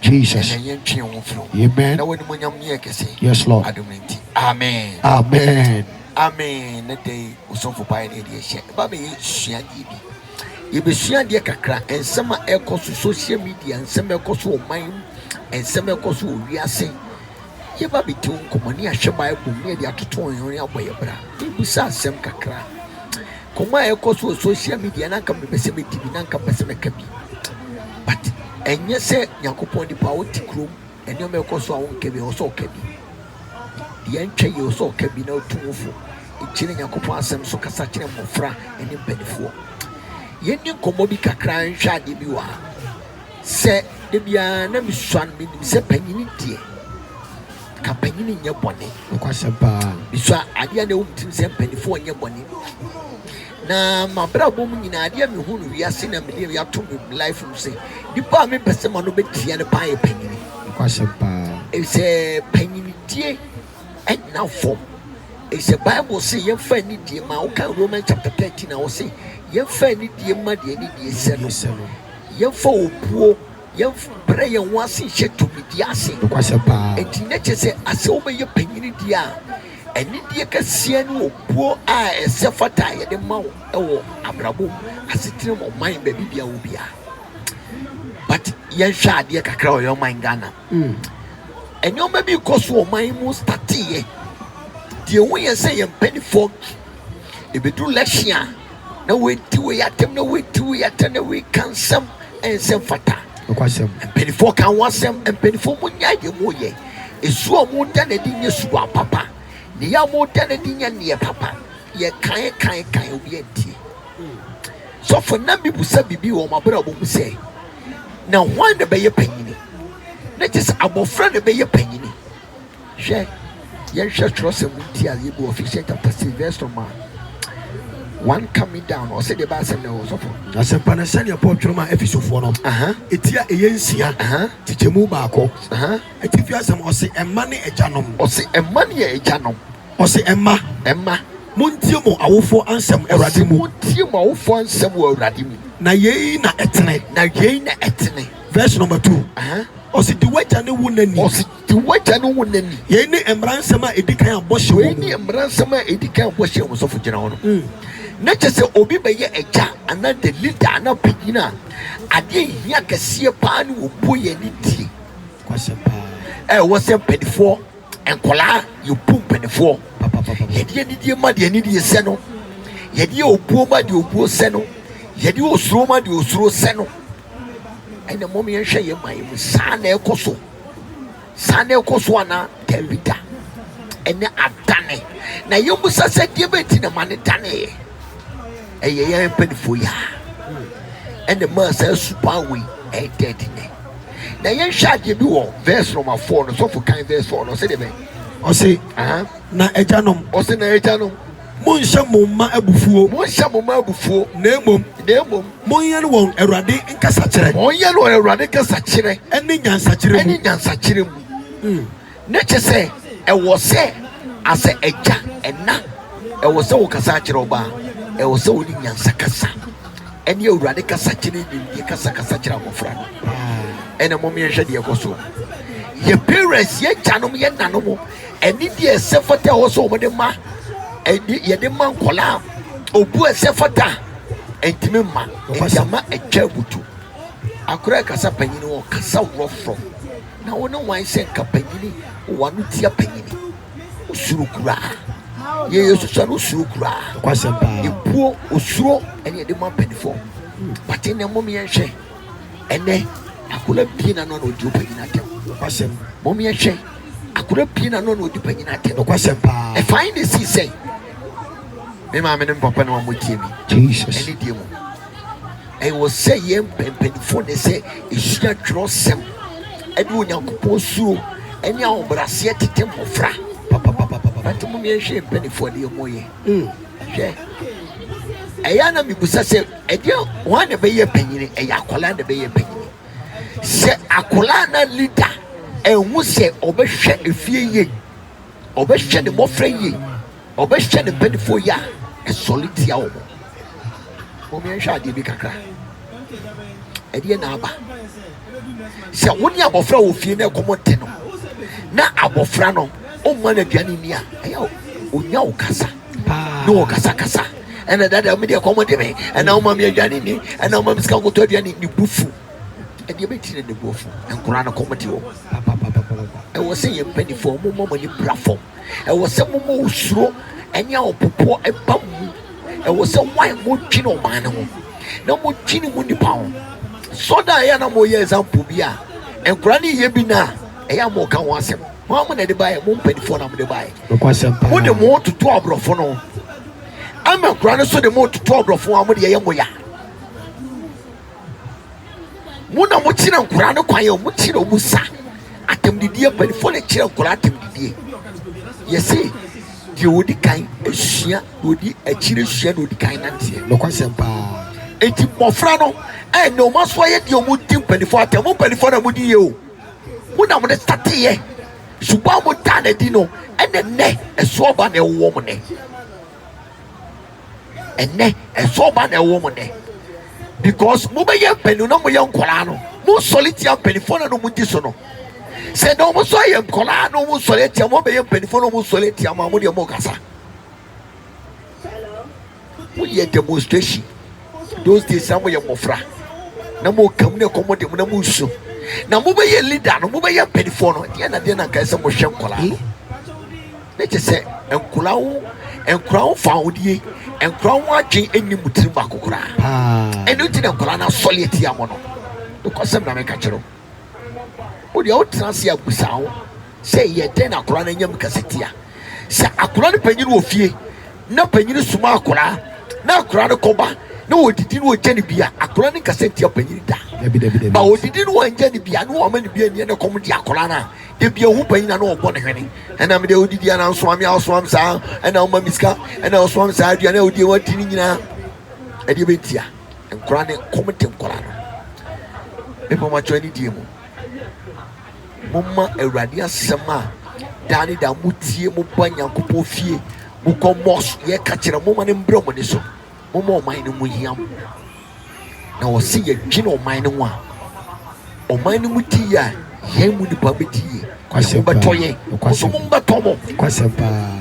Jesus. Amen. Yes, Lord. Amen. Amen. Amen. Ne dɛ osɔfo bae na yɛde ahyia. Ɛba bɛyɛ suadeɛ bi. Yɛbɛsua adeɛ kakra. Nsɛm a ɛkɔ so social media, nsɛm a ɛkɔ so ɔman mu, nsɛm a ɛkɔ so wɔ wiase. Yɛba abɛdi wo nkɔmmɔ ne yɛahwɛ Bible mu ne yɛde atoto yɛn ho ne abɔ yɛn bra. Mebisa asɛm kakra. Nkɔmmɔ a ɛkɔ so wɔ social media na anka mepɛ sɛ medi bi na anka mepɛ sɛ mɛka bi. But ɛnyɛ sɛ Nyankopɔn nipa a wote kurom nneɛma ɛkɔ so a wonka bi ɛwɔ sɛ ɔka bi. Deɛ ɛntwa yie ɛwɔ sɛ ɔka bi na ɔtu wo fo. Nti na Nyankopɔn asɛm so kasa kyerɛ mmɔfra ne mpanifoɔ. Yɛnni nkɔmmɔ bi kakra nhwɛ adeɛ bi wɔ ha. Sɛ da biara na misua no, minim sɛ panyin deɛ, ka panyin nyɛ bɔne. Nokwasɛm paa. Misua adeɛ a na ɛwɔ me tirim sɛ mpanyinfoɔ nyɛ bɔne. Na m'abrabɔ mu nyinaa, adeɛ a mehu no wiase na mede ato me life mu sɛ, nipa a mepɛ sɛ m'ano bɛtia no paa yɛ panyin. Nokwasɛm paa. Efisɛ panyindie nna fam. Efisɛ Bible se yɛmfa anidie ma. Wokan Romans chapter 13 a, ɔse yɛmfa anidie ma deɛ anidie sɛ no. Yɛmfa obuo, yɛmbrɛ yɛn ho ase nhyɛ tumidi ase. Enti na kyerɛ sɛ asɛ wobɛyɛ panyini deɛ a, anidie kɛseɛ ne obuo a ɛsɛ fata a yɛde ma wo wɔ abrabɔ mu, asetena mu, ɔman, baabi biara wɔ biara. But yɛnhwɛ adeɛ kakra wɔ yɛn ɔman Ghana mu. Nneɛma bi rekɔ so wɔ ɔman yi mu stateeɛ. Deɛ ɛho hia sɛ yɛn mpanimfoɔ, ɛbɛduru election a, na wɔredi wei atɛm, na wɔredi wei atɛm, na wɔreka nsɛm a ɛnsɛ mfata. Nokwasɛm. Mpanimfoɔ ka ho asɛm. Mpanimfoɔ mu nya deɛ mu yɛ. Esu a wɔn da n'adi nyɛ su a papa. Ne yɛ a wɔn da n'adi nyɛ neɛ papa. Yɛ kan kan kan obi antie. Sɔfo nna bi busa bibi wɔ wɔn abrabɔ mu sɛ. na hwan na ɛbɛyɛ panyini? Na kyerɛ sɛ abɔfra na ɛbɛyɛ panyini. Hwɛ, yɛnhwɛ twerɛsɛm nti a yɛbu Ephesians chapter six verse number one coming down ɔsɛ deɛ ɛbɛ asɛm na ɛwɔ sɔfo. Asɛmpa no sɛdeɛ Paul twerɛ maa Efesofoɔ no, ɛti a ɛyɛ nsia, kyekyɛmu baako, atifi asɛm ɔse ɛmma ne agyanom. Ɔse ɛmma ne agyanom. Ɔse mma, mma, montie mo awofoɔ ansɛm wɔ Awurade Ɔse mu. montie mo awofoɔ ansɛm wɔ Awurade mu. Na yei na ɛtene. Na yei na ɛtene. Verse number two, Aha. Ɔse di w'agya ne wo na ni. Ɔse di w'agya ne wo na ni. Yei ne mmara nsɛm a ɛdi kan a bɔhyɛ wɔ Wei mu. ne mmara nsɛm a ɛdi kan a bɔhyɛ wɔ mu. Sɔfo gyina hɔ no. Na kyerɛ sɛ obi bɛyɛ agya anaa the leader anaa panyin a, adeɛ a ɛhia kɛseɛ paa ne obuo yɛ ne tie. Nokwasɛm paa. Ɛwɔ sɛ mpaninfoɔ Nkwadaa yɛbu mpanimfoɔ, yɛde anidie ma deɛ anidie sɛ no, yɛde obuo ma deɛ obuo sɛ no, yɛde osuro ma deɛ osuro sɛ no. Ɛna mmom yɛnhwɛ yɛn man yi mu, saa na ɛkɔ so, saa na ɛkɔ so anaa? Dabi da, ɛnɛ adane. Na yɛmmisa sɛ deɛ bɛti na ma ne daneeɛ, ɛyɛ yɛn mpanimfoɔ yi a ɛna maa saa suban wei ɛɛdɛɛde nɛ. Na yɛnhwɛ adeɛ bi wɔ verse number four no sɔfo kan verse four no ɔsɛ deɛ bɛn. Ɔse na agyanom. Ɔse na agyanom. Monhyɛ mo mma abufuo. Monhyɛ mo mma abufuo. Na mmom. Na mmom. Monyɛn wɔn Awurade nkasakyerɛ. Monyɛn wɔn Awurade nkasakyerɛ. Ɛne nyansakyerɛ mu. Ɛne nyansakyerɛ mu. Na kyɛ sɛ ɛwɔ sɛ asɛ agya, ɛna, ɛwɔ sɛ wokasa akyerɛ ɔba, ɛwɔ sɛ wone nyansa kasa, ɛne Awurade kasa kyene nimdeɛ kasa kasa kyerɛ abɔfra no. Ɛna mom yɛnhwɛ deɛ ɛkɔ so. Yɛ parents, yɛ gyanom, yɛ nanom, ɛne deɛ ɛsɛ fata ɛwɔ sɛ wɔde ma, ɛne yɛde ma nkɔla a obu ɛsɛ fata, ɛntimi mma, ɛnti ama ɛtwa abutu. Akora ɛkasa panyini wɔ kasa worɔ forɔ. Na wo ne hwan hyɛ nka panyini wɔ w'ano tia panyini? Osuro koraa. Yɛ Yesu sua no osuro koraa. Nokwasɛm paa. Mpuo osuro ɛne ɛde ma panyinfoɔ. Hmm. Bate ne mmom yɛn hwɛ ɛnɛ akora bie na no na odi opanyini atɛm. Nokwasɛm. Mmom yɛn hwɛ akora bie na no na odi panyini atɛm. Nokwasɛm paa. Ɛfa ayi na esi sɛn. Me maame ne me papa na wɔn mo tie mi. Jesus. Ɛne die mu. Ɛwɔ sɛ yɛn mpɛmpɛnfoɔ na ɛsɛ ɛsua twerɛsɛm ɛde Onyankopɔn suro ɛne ahobraseɛ tete mmɔfra papapapapa. But mo mmea nhwɛ mpanifoɔ adeɛ mo yɛ. Hwɛ. Ɛyɛ ana mibusa sɛ ɛdeɛ wɔn na ɛbɛyɛ panyini ɛyɛ akwadaa na ɛbɛyɛ panyini. Sɛ akwadaa na leader ɛnhu sɛ ɔbɛhwɛ efie yie, ɔbɛhwɛ ne mmɔfra yie, Ɔbɛhyɛ ne mpanimfoɔ yea a ɛsɔre tia wɔn. Mommɛnhwɛ adeɛ bi kakra. Ɛdeɛ na aba. Sɛ wo ne abɔfra wɔ fie na ɛkɔm te no, na abɔfra no ɔmma no aduane nni a, ɛyɛ ɔnya wo kasa ne wɔ kasakasa ɛna dada me deɛ kɔm de me ɛna woma me aduane nni ɛna woma me sika nkɔtɔ aduane ne bu fu ɛdeɛ bɛti ne ne bu afu nkora no kɔm de wɔ ɛwɔ sɛ yɛ mpanimfoɔ momma mo ani bra fam Ɛwɔ sɛ moma osuro ne ahopopoɔ ba mo mu. Ɛwɔ sɛ mo a modwene ɔman no ho, na modwene mo nnipa ho. Sɔ da a ɛyɛ a na moyɛ example bi a nkwadaa no yɛ bi no a, ɛyɛ a moka ho asɛm. Mo ara mo na ɛde baeɛ, mo mpanimfoɔ na mode baeɛ. Mode mo ho toto aborɔfo no ho, ama nkwadaa no nso de mo toto aborɔfo ho a mode yɛyɛ mo ya. Mo na mokyerɛ nkwadaa no kwan o, mokyerɛ wɔn sa. Atɛmdidie mpanimfoɔ na ɛkyerɛ nkwadaa atɛmdidie. Yɛse deɛ ɔdi kan sua na ɔdi akyire sua na ɔdi kan nanteɛ. Nokwasɛm paa. Enti mmɔfra no ɛnna wɔn aso ayɛ deɛ wɔdi mpanimfoɔ atɛm. Mo mpanimfoɔ na modi yie o. Mo na mode stateeɛ. Suban a modaa no adi no ɛna nnɛ ɛso aba na ɛwowɔ mo nnɛ. ɛnɛ ɛsɔ ɔba na ɛwɔ mo nɛ because mo bɛyɛ mpanyinfo na mo yɛ nkɔlaa no mo nsɔre tia mpanyinfo na mo di so no sɛ na wɔn nso ayɛ nkɔlaa na wɔn nsɔre tia mo bɛyɛ mpanyinfo na wɔn nsɔre tia mo a mo deɛ mo kasa mo yɛ demonstration those days na mo yɛ mmɔfra na mo kam na ɛkɔm de mo na mo nsu na mo bɛyɛ leader no mo bɛyɛ mpanyinfo no deɛ na deɛ na nkae sɛ mo hwɛ nkɔlaa no. Ne te sɛ nkwadaa wo nkwadaa wo fa odie nkwadaa ho adwene ɛnni mu tirim baako koraa ɛno nti na nkwadaa no asɔre atia mo no nokɔsɛm na meka kyerɛ wo deɛ wotena ase abusa ho sɛ yɛ dɛn na akwadaa no anya mu kɛse tia sɛ akwadaa no panyin wɔ fie na panyin soma akwadaa na akwadaa no kɔba na wɔdidi no wɔgya no bia akwadaa no nkasa ntia panyin da ba wɔdidi no wɔngya no bia na wɔama no bia nniɛ no kɔm de akwadaa no a da bia ohu panyin a na ɔbɔ ne hwene ɛna mede odidi ana ɔsoa me a ɔsoa me saa ɛna ɔma me sika ɛna ɔsoa me saa aduane a odie wadi ne nyinaa ɛdeɛ bɛntia nkora ne kɔm de nkora no mepɛ makyɛ ani die mu momma awurade asɛm a daa ne daa motie moba nyankopɔn fie mokɔ mos yɛka kyerɛ moma ne mbrɛ mo ne so Momma ɔman no mu hia mo. Na wɔse yɛdwene ɔman no ho a, ɔman no mu te yie a, yɛn mu nipa bɛte yie. Kwasɛm Mobɛtɔ paa. yɛn, mo Kwasɛm. nso mommɛtɔ mo. Kwasɛm paa.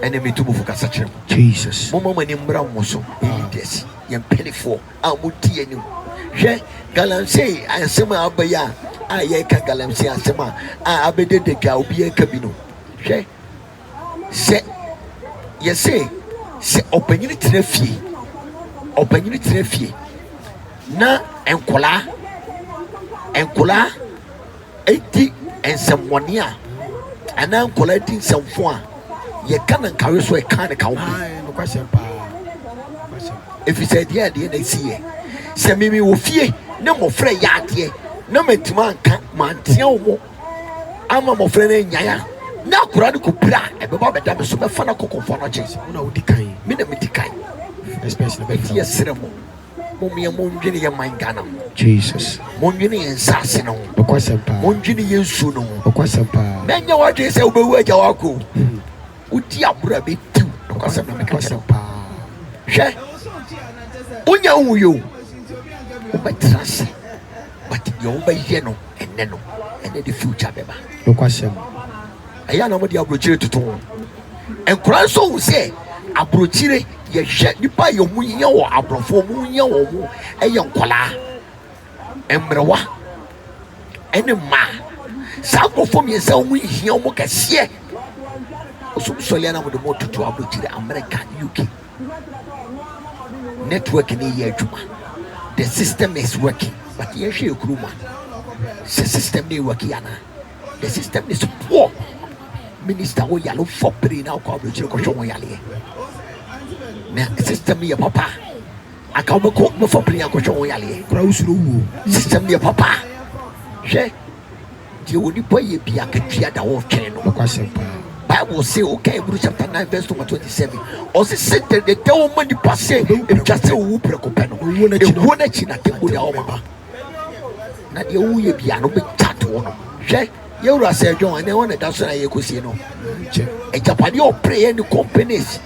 Ɛnna metu mo fo kasa kyerɛ mo. Jesus. Momma mo ani mmra mo so, yɛn leaders, yɛn mpanimfoɔ a modi yɛn anim. Hwɛ, galamsey asɛm a aba yi a, a yɛreka galamsey asɛm a, a abɛdɛ da dwa a obiara reka bi no, hwɛ, Sɛ yɛse sɛ ɔpanyin tena fie, ɔpanyin tena fie na nkwadaa nkwadaa di nsɛmmɔne a anaa nkwadaa di nsɛmfo a yɛka no nkawe so ɛka no ka ho bi ɛfiri sɛ ɛdeɛ adeɛ na ɛsi yɛ sɛ mimi wɔ fie ne mmɔfra yɛ adeɛ na mantumi anka manteɛ wo mo ama mmɔfra no anyan a, na akwadaa no kɔ pira a, ɛbɛba bɛda me so, mɛfa no akɔ kɔmfoa no akyɛ. Sɛ mo na wodi kan, me na medi kan. Especially bɛ fi ɛsrɛ mo mo mmea mo ndwene yɛ man Ghana ho Jesus mo ndwene yɛ nsaase no ho ɔkwasɛm paa mo ndwene yɛ nsuo no ho ɔkwasɛm paa na nyɛ wadwene sɛ wobɛwu agya wako hmm. wodi aboro a bɛtiw ɔkwasɛm na mekɛsɛm paa hwɛ wonya wo yo wobɛtra se But nea ɔmo bɛyɛ no ɛnnɛ no ɛna ɛde future bɛba. Nokwasɛm. Ɛyɛ a na ɔmo de abrokyire toto ho. Nkwadaa nso hu sɛ abrokyire yɛhwɛ nipa yɛ ɔmo hia wɔ abrɔfo ɔmo hia wɔ ɔmo ɛyɛ nkwadaa, mmerewa ɛne mmaa. Saa nkorɔfoɔ mmiɛnsa ɔmo hia ɔmo kɛseɛ. Ɔsom sɔleɛ na ɔmo de ɔmo toto abrokyire America, UK. Network no yɛ adwuma. The system is working. But yɛhwɛ yɛ kurom a, sɛ system no yɛ working ana? The system is poor. Minister wo yale fɔ pere na wokɔ aburokyire kɔhwɛ ho yaleɛ. Na system no yɛ papa. Aka wobɛkɔ bɛfɔ pere akɔhwɛ ho yaleɛ. Kora wosuro wuo. System no yɛ papa. Hwɛ. Deɛ onipa yɛ biara akatua da hɔ retwɛn no. Nokwasɛm paa. Bible se, wokan Hebrew chapter nine verse number twenty seven, ɔse Satan de ɛda hɔ ma nipa sɛ etwa sɛ owu prɛko pɛ no, ewuo no akyi na atemmude a wɔbɛba, na deɛ woyɛ biara no bɛgya to hɔ nom. Hwɛ, yɛn wura Sir John, ɛnɛ hɔ na ɛda so na yɛkɔsie no. Agyapadeɛ ɔpere yɛ ne companies,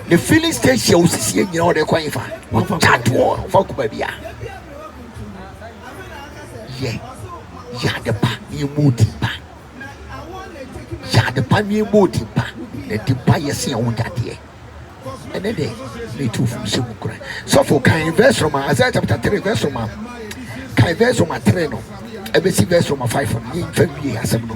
ne filling station a ɔsisi yɛ nyinaa ɔde kɔ hefa? Ɔgya to hɔ, ɔmfa kɔ baabiara. Yɛ yɛ ade pa na yɛmmɔ wo din pa. Yɛ ade pa na yɛmmɔ wo din pa. Na din pa yɛ se a wonya adeɛ. Ɛnɛ dɛ na ɛtu funu sɛ mu kura. Sɔfo kan verse Roma Isaiah chapter three verse Roma kan verse Roma three no ɛbɛsi verse Roma five no yɛmfa wie asɛm no.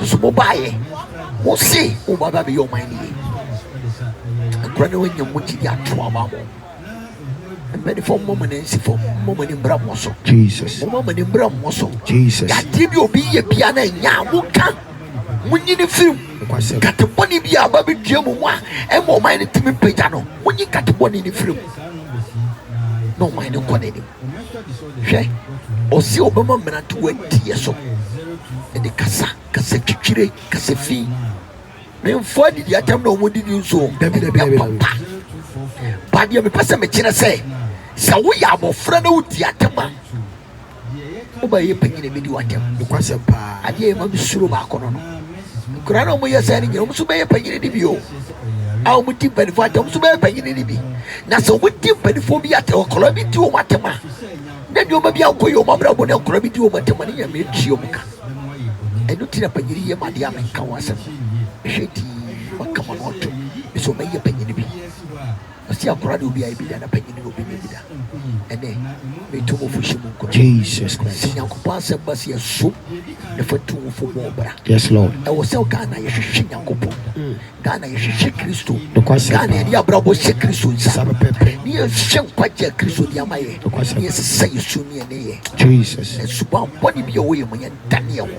Nso mo baeɛ mo se mo ba bɛa bɛyɛ ɔman no yie nkura no anya mo gyidi ato ama mo mpanimfoɔ mo mo nansifoɔ mo mo ani mbra mo so Jesus mo mo ani mbra mo so Jesus yadeɛ bi obi yɛ bia na anya mo ka mo nyini firim katebɔne bi a ba bi dua mu mu a ɛma ɔman no tumi pagya no mo nyi katebɔne no firim na ɔman no kɔ n'anim Hwɛ, ɔse ɔbɛma mmerante wɔ adiyɛ so, ɛde kasa, kasa titire, kasa fi, ne mfoɔ adidi atɛm na wɔn didi nso, dabi dabi apaw pa. Ba deɛ mepɛ sɛ mekyerɛ sɛ, sɛ woyɛ abɔfra na wodi atɛm a, wobɛyɛ panyin na ebedi w'atɛm. Nokwasɛm paa. Adeɛ a ɛma mesuro baako no no. Nkoraa no a wɔyɛ saa no nyina wɔn nso bɛyɛ panyini no bi o, a wɔn di mpanifoɔ atɛm, wɔn nso bɛyɛ panyini no bi. Na sɛ wɔn di mpanifoɔ bi atɛm, nkoraa bi di wɔn atɛm a, na nneɛma bi ankɔ yɛ wɔn abrabɔ na nkoraa bi di wɔn atɛm a, ne nyina metua wɔn ka. Ɛno nti na panyini yɛ m'adeɛ a menka ho asɛm no. Mehwɛ dii, makama no ɔto, me sɛ wɔn bɛyɛ panyini bi. Ɔsi akora de obi ayɛ bi da na panyin de obi nyɛ bi da. Ɛnɛ, metu mo fo hyɛ mu nkuran. Sɛ Nyankopɔn asɛm ba sɛ ɛso na fa tu wo fo bɔ bra. Ɛwɔ sɛ Ghana yɛhwehwɛ Nyankopɔn. Ghana yɛhwehwɛ Kristo. Ghana yɛde yɛn abrabɔ hyɛ Kristo nsa. Ne yɛnhwɛ nkwagye a Kristo de ama yɛ. Ne yɛsesa yɛsu ne yɛn nneyɛɛ. Na suban bɔne bi a ɛwɔ yɛn mu yɛn dane yɛn ho.